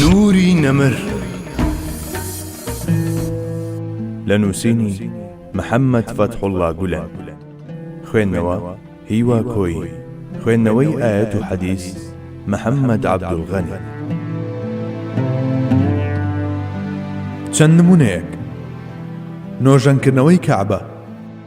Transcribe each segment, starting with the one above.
نوری نەمر لە نووسینی محەممەد فەتحوڵڵا گولەن خوێندنەوە، هیوا کۆیی خوێندنەوەی ئایەت و حەدیس محەممەد عەبدولغەنی چەند نموونەیەک، نۆژەنکردنەوەی کەعبە،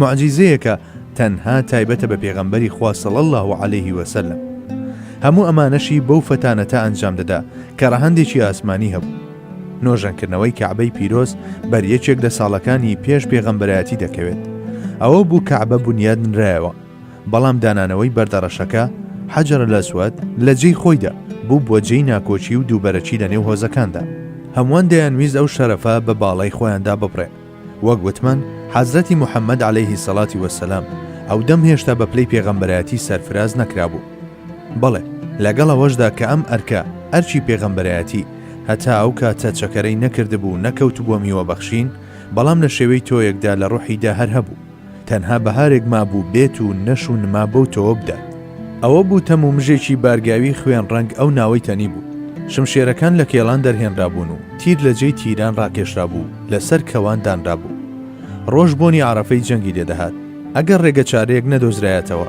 موعجیزەیەکە تەنها تایبەتە بە پێغەمبەری خوا صلی اللە علیه وسلم هەموو ئەمانەشی بەو فەتانەتە ئەنجام دەدا کە ڕەهەندێکی ئاسمانی هەبوو نۆژەنکردنەوەی کەعبەی پیرۆز بەر یەکێک لە ساڵەکانی پێش پێغەمبەرایەتی دەکەوێت ئەوە بوو کەعبە بنیاد نرایەوە بەڵام دانانەوەی بەردەڕەشەکە حەجر لەسوەت لە جێی خۆیدا بوو بۆ جێی ناکۆچی و دووبەرەکی لە نێو هۆزەکاندا هەمووان دەیانویست ئەو شەرەفە بە باڵای خۆیاندا ببڕێ وەک وتمان حەزرەتی محمد علیە الصلوة والسلام ئەودەم هێشتا بە پلەی پێغەمبەرایەتی سەرفراز نەکرابوو بەڵێ لەگەڵ ئەوەشدا کە ئەم ئەرکە ئەرکی پێغەمبەرایەتی هەتا ئەو کاتە چەکەرەی نەکردبوو نەکەوتبووە میوەبەخشین بەڵام لە شێوەی تۆیەکدا لە ڕۆحیدا هەر هەبوو تەنها بەهارێک مابوو بێت و نەش و نما بەو تۆوە بدات. ئەوە بوو تەم و مژێکی بارگاوی خوێن ڕەنگ ئەو ناوەی تەنی بوو. شمشێرەکان لە کێڵان دەرهێنرابوون و تیر لە جێی تیران ڕاکێشرابوو و لە سەر کەوان دانرابوو. ڕۆژ بۆنی عەڕەفەی جەنگی لێ دەهات. ئەگەر ڕێگە چارەیەک نەدۆزرایەتەوە،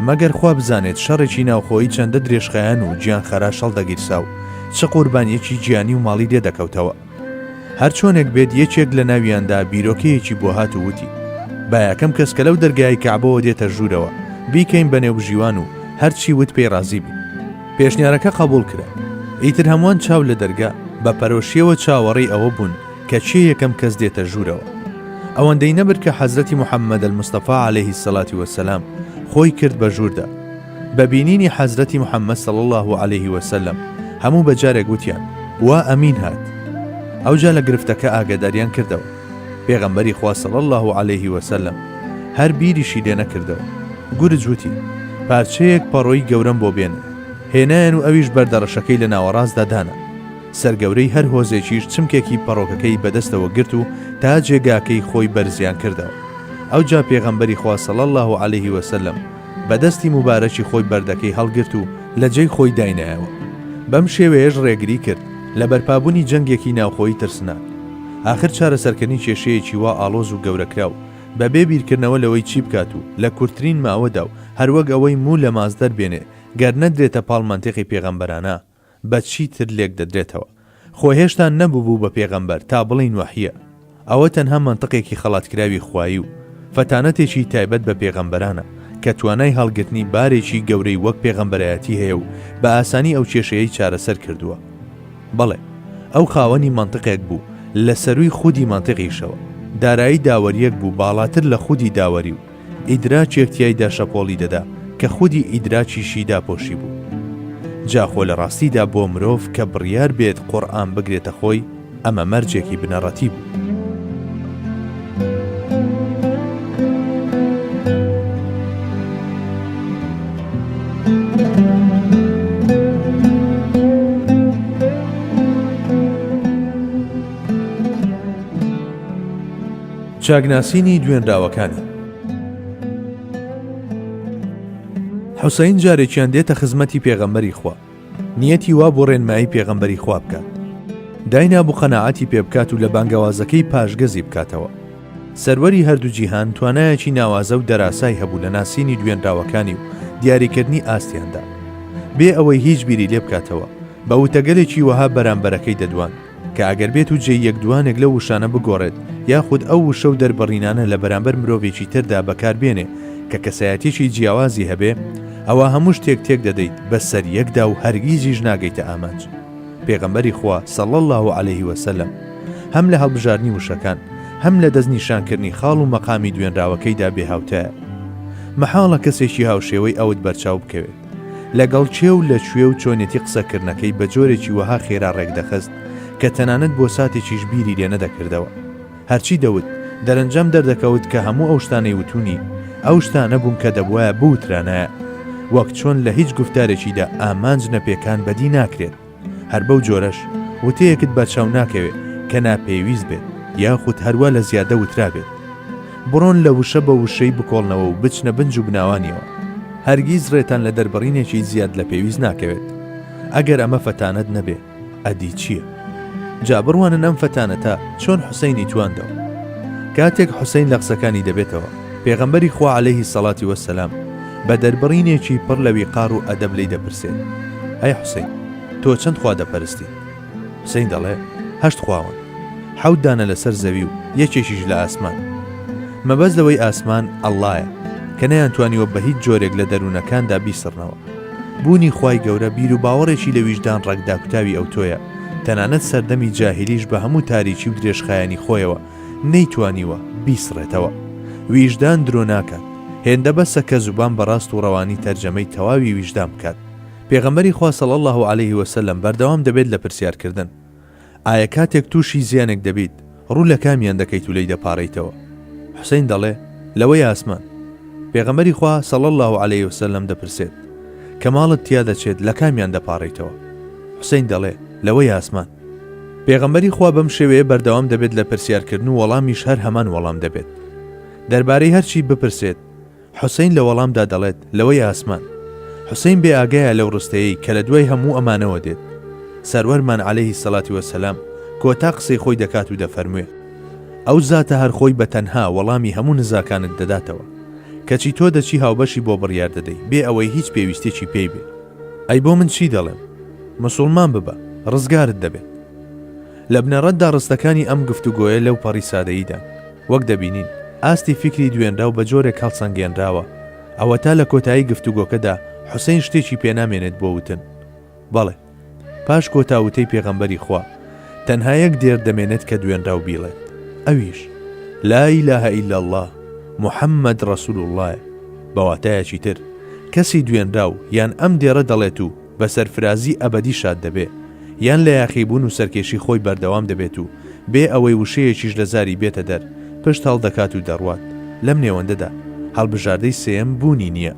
مەگەر خوا بزانێت شەڕێکی ناوخۆیی چەندە درێژخایەن و گیانخەراش هەڵدەگیرسا و چ قوربانییەکی گیانی و ماڵی لێ دەکەوتەوە. هەرچۆنێک بێت یەکێک لە ناویاندا بیرۆکەیەکی بۆ هات و وتی، با یەکەم کەس کە لەو دەرگای کەعبەوە دێتە ژوورەوە، بیکەین بە نێوبژیوان و هەرچی وت پێی ڕازی بین. پێشنیارەکە قەبووڵ کرا. ئیتر هەمووان چاو لە دەرگا، بە پەرۆشییەوە چاوەڕێی ئەوە بوون کە کێ یەکەم کەس دێتە ژوورەوە. ئەوەندەی نەبرد کە حەزرەتی محەممەدەلمستەفا عەلەیهی سەلاتی وەسەلام خۆی کرد بە ژووردا، بە بینینی حەزرەتی محمد صلی اللە علیە وسلم هەموو بە جارێک وتیان، وا ئەمین هات! ئەوجا لە گرفتەکە ئاگاداریان کردەوە. پێغەمبەری خوا صلی اللە علیە وسلم هەر بیریشی لێ نەکردەوە. گورج وتی، پارچەیەک پەڕۆی گەورەم بۆ بێنن. هێنایان و ئەویش بەردە ڕەشەکەی لە ناوەڕاستدا دانا. سەرگەورەی هەر هۆزێکیش چمکێکی پەڕۆکەکەی بە دەستەوە گرت و تا جێگاکەی خۆی بەرزیان کردەوە. ئەوجا پێغەمبەری خوا صلی اللە علیە وسلم بە دەستی موبارەکی خۆی بەردەکەی هەڵگرت و لە جێی خۆی داینایەوە. بەم شێوەیەش ڕێگری کرد لە بەرپابوونی جەنگێکی ناوخۆیی ترسناک. ئاخر چارەسەرکردنی کێشەیەکی وا ئاڵۆز و گەورەکراو، بە بێ بیرکردنەوە لەوەی چی بکات و لە کورتترین ماوەدا و هەروەک ئەوەی موو لە ماست دەربێنێ، گەر نەدرێتە پاڵ مەنتیقی پێغەمبەرانە، بە چی تر لێک دەدرێتەوە؟ خۆ هێشتا نەببوو بە پێغەمبەر تا بڵێین وەحییە. ئەوە تەنها مەنتقێکی خەڵاتکراوی خوایی و فەتانەتێکی تایبەت بە پێغەمبەرانە کە توانای هەڵگرتنی بارێکی گەورەی وەک پێغەمبەرایەتی هەیە و بە ئاسانی ئەو کێشەیەی چارەسەر کردووە. بەڵێ، ئەو خاوەنی مەنتقێک بوو لە سەرووی خودی مەنتقیشەوە. دارایی داوەرییەک بوو باڵاتر لە خودی داوەری و. ئیدراکێک تیایدا شەپۆڵی دەدا کە خودی ئیدراکیشی داپۆشی بوو. جا خۆ لە ڕاستیدا بۆ مرۆڤ کە بڕیار بێت قورئان بگرێتە خۆی ئەمە مەرجێکی بنەڕەتی بوو. چاکناسینی دوێنراوەکانی حوسەین جارێکیان دێتە خزمەتی پێغەمبەری خوا نیەتی وا بۆ ڕێنمایی پێغەمبەری خوا بکات داینا بوو قەنەعاتی پێ بکات و لە بانگەوازەکەی پاشگەزی بکاتەوە سەروەری هەردوو جیهان توانایەکی ناوازە و دەراسای هەبوو لە ناسینی دوێنراوەکانی و دیاریکردنی ئاستیاندا بێ ئەوەی هیچ بیری لێ بکاتەوە بە وتەگەلێکی وەها بەرامبەرەکەی دەدوان کە ئەگەر بێت و جێی یەک دوانێک لەو وشانە بگۆڕێت یاخود ئەو وشە و دەربڕینانە لە بەرامبەر مرۆڤێکی تردا بەکار بێنێ کە کەسایەتیەکی جیاوازی هەبێ ئەوا هەموو شتێک تێک دەدەیت بە سەر یەکدا و هەرگیزیش ناگەیتە ئامانج. پێغەمبەری خوا صلی اللە علیه و سلم هەم لە هەڵبژاردنی وشەکان هەم لە دەست نیشان کردنی خاڵ و مەقامی دوێنراوەکەیدا بێ هاوتایە. مەحاڵە کەسێکی هاوشێوەی ئەوت بەرچاو بکەوێ. لەگەڵ کێ و لە کوێ و چۆنێتی قسەکردنەکەی بە جۆرێکی وەها خێرا ڕێکدەخست کە تەنانەت بۆ ساتێکیش بیری لێ نەدەکردەوە. هەرچی دەوت، دەرەنجام دەردەکەوت کە هەموو ئەو شتانەی وتوونی، ئەو شتانە بوون کە دەبوایە بوترانایە. وەک چۆن لە هیچ گوفتارێکیدا ئامانج نەپێکان بەدی ناکرێت. هەر بەو جۆرەش وتەیەکت بەرچاو ناکەوێت کە ناپێویست بێت یاخود هەروا لە زیادە وترابێت. بڕۆن لە وشە بە وشەی بکۆڵنەوە و بچنە بن جوبناوانیەوە. هەرگیز ڕێتان لە دەربڕینێکی زیاد لە پێویست ناکەوێت. ئەگەر ئەمە فەتانەت نەبێ ئەدی چییە؟ جا بڕوانن ئەم فەتانەتە چۆن حوسەینی تواندەوە. کاتێک حوسەین لە قسەکانی دەبێتەوە، پێغەمبەری خوا عەلەیهی سەڵاتی وەسەلام، بە دەربڕینێکی پڕ لە ویقار و ئەدەب لێی دەپرسێت، ئەی حوسەین، تۆ چەند خوا دەپەرستیت؟ حوسەین دەڵێ، هەشت خواوەن. حەوت دانە لەسەر زەوی و یەکێکیش لە ئاسمان. مەبەست لەوەی ئاسمان، ئەڵڵایە، کە نەیانتوانیوە بە هیچ جۆرێک لە دەروونەکاندا بیسڕنەوە. بوونی خوای گەورە بیروباوەڕێکی لە ویژدان ڕەگ داکوتاوی ئەوتۆیە، تەنانەت سەردەمی جاهیلیش بە هەموو تاریکی و درێژخایەنی خۆیەوە، نەیتوانیوە بیسڕێتەوە. ویژدان درۆ ناکات. هێندە بەسە کە زوبان بە ڕاست و ڕەوانی تەرجەمەی تەواوی ویژدان بکات. پێغەمبەری خوا صلی اللە علیه وسلم بەردەوام دەبێت لە پرسیار کردن. ئایا کاتێک تووشی زیانێک دەبیت ڕوو لە کامیان دەکەیت و لێی دەپاڕێیتەوە؟ حسین دەڵێ، لەوەی ئاسمان. پێغەمبەری خوا صلی اللە علیه وسلم دەپرسێت، کە ماڵت تیا دەچێت لە کامیان دەپاڕێیتەوە؟ حسین دەڵێ، لەوەی ئاسمان. پێغەمبەری خوا بەم شێوەیە بەردەوام دەبێت لە پرسیارکردن و وەڵامیش هەر هەمان وەڵام دەبێت دەربارەی هەرچی بپرسێت حوسین لە وەڵامدا دەڵێت لەوەی ئاسمان حوسین بێ ئاگایە لەو ڕستەیەی کە لە دوای هەموو ئەمانەوە دێت سەروەرمان عليهەیهی سەڵاتی وەسەلام کۆتا قسەی خۆی دەکات و دەفەرموێ ئەو زاتە هەرخۆی بە تەنها وەڵامی هەموو نزاکانت دەداتەوە کەچی تۆ دەچی هاوبەشی بۆ بڕیار دەدەی بێ ئەوەی هیچ پێویستێکی پێی بێت ئەی بۆ من چی دەڵێم مسوڵمان ببە ڕزگارت دەبێت. لە بنەڕەتدا ڕستەکانی ئەم گفتوگۆیە لەوپەڕی سادەییدان. وەک دەبینین، ئاستی فیکری دوێنراو بە جۆرێک هەڵسەنگێنراوە، ئەوەتا لە کۆتایی گفتوگۆکەدا حوسەین شتێکی پێنامێنێت بۆ وتن. بەڵێ، پاش کۆتا وتەی پێغەمبەری خوا، تەنها یەک دێرت دەمێنێت کە دوێنراو بیڵێت، ئەویش، لا الە الا اللە، محمد رسول اللە، ە. بە واتایەکی تر، کەسی دوێنراو یان ئەم دێڕە دەڵێت و، بە سەرفرازی ئەبەدی شاد دەبێ، یان لە یاخیبوون و سەرکێشی خۆی بەردەوام دەبێت و بێ ئەوەی وشەیەکیش لە زاری بێتە دەر، پشت هەڵدەکات و دەڕوات. لەم نێوەندەدا، هەڵبژاردەی سێیەم بوونی نییە.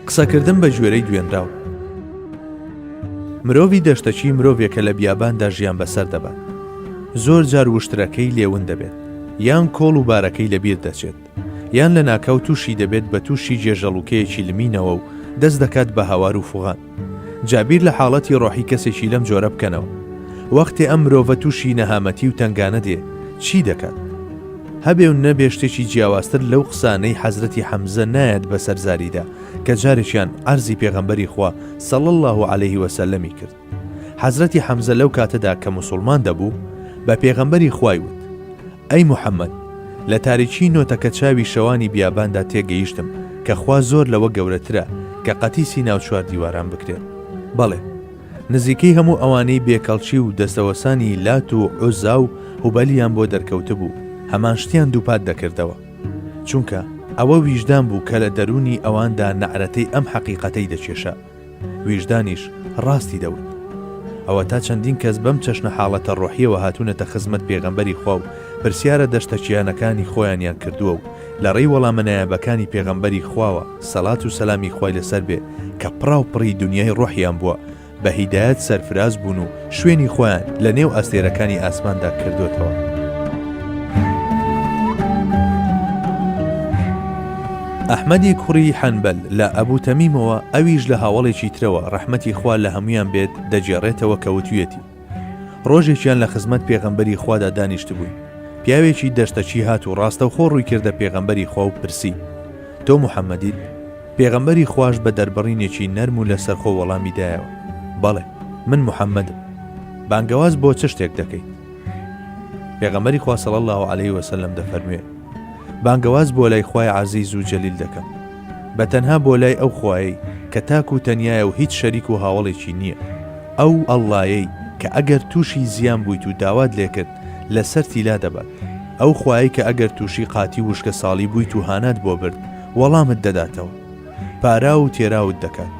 قسەکردن بە گوێرەی دوێنراو. مرۆڤی دەشتەکی مرۆڤێکە لە بیاباندا ژیان بەسەر دەبات. زۆر جار وشترەکەی لێون دەبێت، یان کۆڵ و بارەکەی لەبیر دەچێت، یان لەناکاو تووشی دەبێت بە تووشی جێژەڵوکەیەکی لمینەوە و دەست دەکات بە هاوار و فوغان. جا بیر لە حاڵەتی ڕۆحی کەسێکی لەم جۆرە بکەنەوە. وەختێ ئەم مرۆڤە تووشی نەهامەتی و تەنگانە دێ، چی دەکات؟ هەبێ و نەبێ شتێکی جیاوازتر لەو قسانەی حەزرەتی حەمزە نایەت بەسەر زاریدا کە جارێکیان عەرزی پێغەمبەری خوا صلی اللە علیه وسلم-ی کرد حەزرەتی حەمزە لەو کاتەدا کە موسوڵمان دەبوو بە پێغەمبەری خوای وت ئەی محەممەد لە تاریکی نۆتەکە چاوی شەوانی بیاباندا تێگەیشتم کە خوا زۆر لەوە گەورەترە کە قەتیسی ناو چوار دیواران بکرێت بەڵێ نزیکەی هەموو ئەوانەی بێ کەڵکی و دەستەوەسانی لات و عوزا و هوبەلیان بۆ دەرکەوتبوو هەمان شتیان دووپات دەکردەوە چونکە ئەوە ویژدان بوو کە لە دەروونی ئەواندا نەعرەتەی ئەم حەقیقەتەی دەکێشا ویژدانیش ڕاستی دەوت ئەوەتا چەندین کەس بەم چەشنە حاڵەتە ڕۆحیەوە هاتوونەتە خزمەت پێغەمبەری خوا و پرسیارە دەشتەکییانەکانی خۆیانیان کردووە و لەڕێی وەڵامە نایابەکانی پێغەمبەری خواوە سەلات و سەلامی خوای لەسەر بێ کە پڕاو پڕی دونیای ڕۆحیان بووە بە هیدایەت سەرفراز بوون و شوێنی خۆیان لە نێو ئەستێرەکانی ئاسماندا کردۆتەوە. ئەحمەدی کوڕی حەنبەل لە ئەبوو تەمیمەوە ئەویش لە هاوەڵێکی ترەوە ڕەحمەتی خوا لە هەمویان بێت دەگێڕێتەوە کەوتویەتی ڕۆژێکیان لە خزمەت پێغەمبەری خوادا دانیشتبووین پیاوێکی دەشتەچی هات و ڕاستەوخۆ ڕووی کردە پێغەمبەری خوا و پرسی تۆ محەممەدیت پێغەمبەری خوش بە دەربڕینێکی نەرم و لەسەرخۆ وەڵامی دایەوە بەڵێ من محەممەدم بانگەواز بۆ چ شتێک دەکەیت پێغەمەری خواسەڵ الله و عليه وسلم دەفەرموێ بانگەواز بۆ لای خی عزیز و جەلیل دەکەم بە تەنها بۆ لای ئەو خوایی کە تاکو تەنایە و هیچ شەریک و هاوڵێکی نییە ئەو اللەیەی کە ئەگەر تووشی زیان بوویت و داوات لێکرد لەسەرتی لادەبات، ئەو خوایەی کە ئەگەر تووشی قاتی و وشکەساڵی بوویت و هانات بۆ برد وەڵامت دەداتەوە، پاراو و تێراوت دەکات،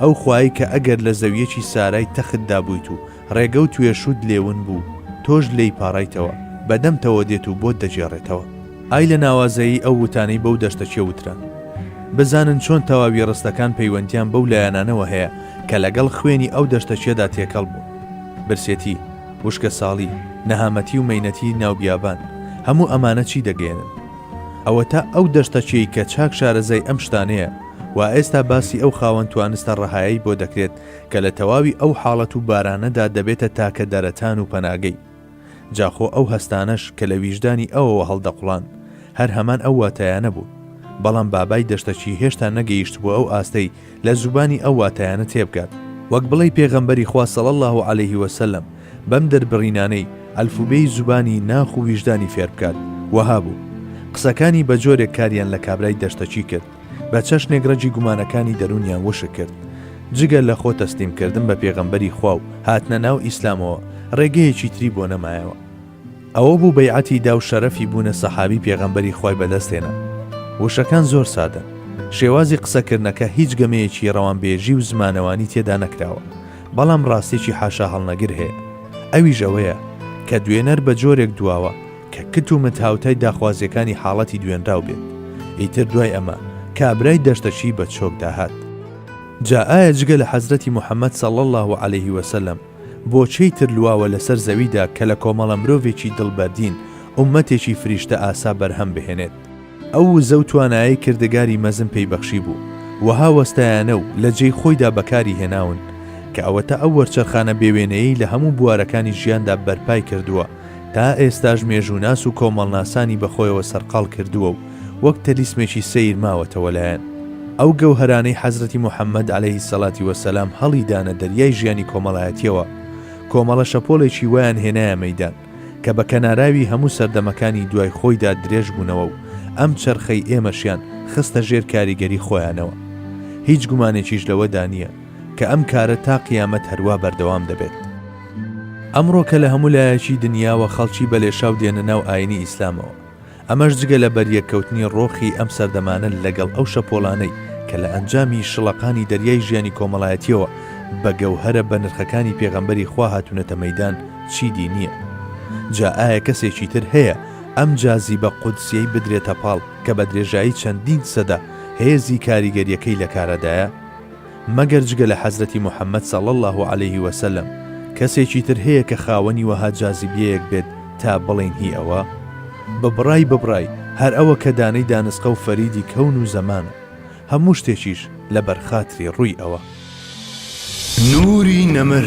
ئەو خوایەی کە ئەگەر لە زەویەکی سارای تەختدا بوویت و ڕێگە و توێشووت لێ ون بوو تۆش لێی پاڕایتەوە بەدەمتەوە دێت و بۆت دەگێڕێتەوە. ئای لە ناوازەیی ئەو وتانەی بەو دەشتەچیە وترا. بزانن چۆن تەواوی ڕستەکان پەیوەندیان بەو لایەنانەوە هەیە کە لەگەڵ خوێنی ئەو دەشتەچیەدا تێکەڵ بوون. برسێتی، وشکەساڵی، نەهامەتی و مەینەتی ناو بیابان، هەموو ئەمانە چی دەگەیەنن؟ ئەوەتا ئەو دەشتەچیەی کە چاک شارەزای ئەم شتانەیە و ئێستا باسی ئەو خاوەن توانستە ڕەهایەی بۆ دەکرێت کە لە تەواوی ئەو حاڵەت و بارانەدا دەبێتە تاکە دەرەتان و پەناگەی. جا خۆ ئەو هەستانەش کە لە ویژدانی ئەوەوە هەڵدەقوڵان، هەر هەمان ئەو واتایانە بوون. بەڵام بابای دەشتەکی هێشتا نەگەیشتبووە ئەو ئاستەی لە زوبانی ئەو واتایانە تێبگات. وەک بڵێی پێغەمبەری خوا صلی اللە علیه و سلم بەم دەربڕینانەی ئەلفوبێی زوبانی ناخ و ویژدانی فێربکات، وەها بوو. قسەکانی بە جۆرێک کاریان لە کابرای دەشتەکی کرد. بە چەشنێک رەگی گومانەکانی دەروونیان وشک کرد. جگە لە خۆ تەسلیم کردن بە پێغەمبەری خوا و هاتنە ناو ئیسلامەوە، رێگەیەکی تری بۆ نەمایەوە. ئەوە بوو بەیعەتی دا و شەرەفی بوونە سەحابی پێغەمبەری خوای بە دەست هێنا. وشەکان زۆر سادەن. شێوازی قسە کردنەکە هیچ گەمەیەکی رەوانبێژی و زمانەوانی تێدا نەکراوە. بەڵام راستێکی حاشاهەڵنەگر هەیە. ئەویش ئەوەیە کە دوێنەر بە جۆرێک دواوە، کە کت و مت هاوتای داخوازییەکانی حاڵەتی دوێنراو بێت، ئیتر دوای ئەمە کابرای دەشتەکی بە چۆکدا هات. جا ئایا جگە لە حەزرەتی محەمەد صلی اللە علیه و سلم بۆ کێی تر لواوە لەسەر زەویدا کە لە کۆمەڵە مرۆڤێکی دڵ بەردین، ئوممەتێکی فریشتە ئاسا بەرهەم بهێنێت؟ ئەو وزە و توانایەی کردگاری مەزن پێی بەخشیبوو، وەها وەستایانە و لە جێی خۆیدا بەکاری هێناون، کە ئەوەتا ئەو وەرچەرخانە بێوێنەیەی لە هەموو بوارەکانی ژیاندا بەرپای کردووە، تا ئێستاش مێژووناس و کۆمەڵناسانی بە خۆیەوە سەرقاڵ کردووە و وەک تەلیسمێکی سەیر ماوەتەوە لایان. ئەو گەوهەرانەی حەزرەتی موحەممەد عەلەیهی سەلاتی وەسەلام هەڵی دانە دەریای ژیانی کۆمەڵایەتییەوە، کۆمەڵە شەپۆڵێکی وایان هێنایە مەیدان، کە بە کەناراوی هەموو سەردەمەکانی دوای خۆیدا درێژ بوونەوە و ئەم چەرخەی ئێمەشیان خستە ژێر کاریگەری خۆیانەوە. هیچ گومانێکیش لەوەدا نییە، کە ئەم کارە تا قیامەت هەروا بەردەوام دەبێت. ئەمڕۆ کە لە هەموو لایەکی دنیاوە خەڵکی بەلێشاو دێنە ناو ئایینی ئیسلامەوە، ئەمەش جگە لە بەریەککەوتنی ڕۆخی ئەم سەردەمانە لەگەڵ ئەو شەپۆلانەی کە لە ئەنجامی شڵەقانی دەریای ژیانی کۆمەڵایەتیەوە بە گەوهەرە بەنرخەکانی پێغەمبەری خوا هاتونەتە مەیدان چیدی نیە جا ئایا کەسێکی تر هەیە ئەم جازیبە قودسیەی بدرێتە پاڵ کە بە درێژایی چەندین سەدە هێزی کاریگەریەکەی لەکارەدایە؟ مەگەر جگە لە حەزرەتی محمد صلی اللە علیە وسلم کەسێکی تر هەیە کە خاوەنی وەها جازیبیەیەک بێت تا بڵێین هی ئەوە؟ ببڕای ببڕای هەر ئەوە کە دانەی دانسقە و فەریدی کەون و زەمانە. هەموو شتێکیش لە بەر خاتری ڕووی ئەوە. نوری نەمر.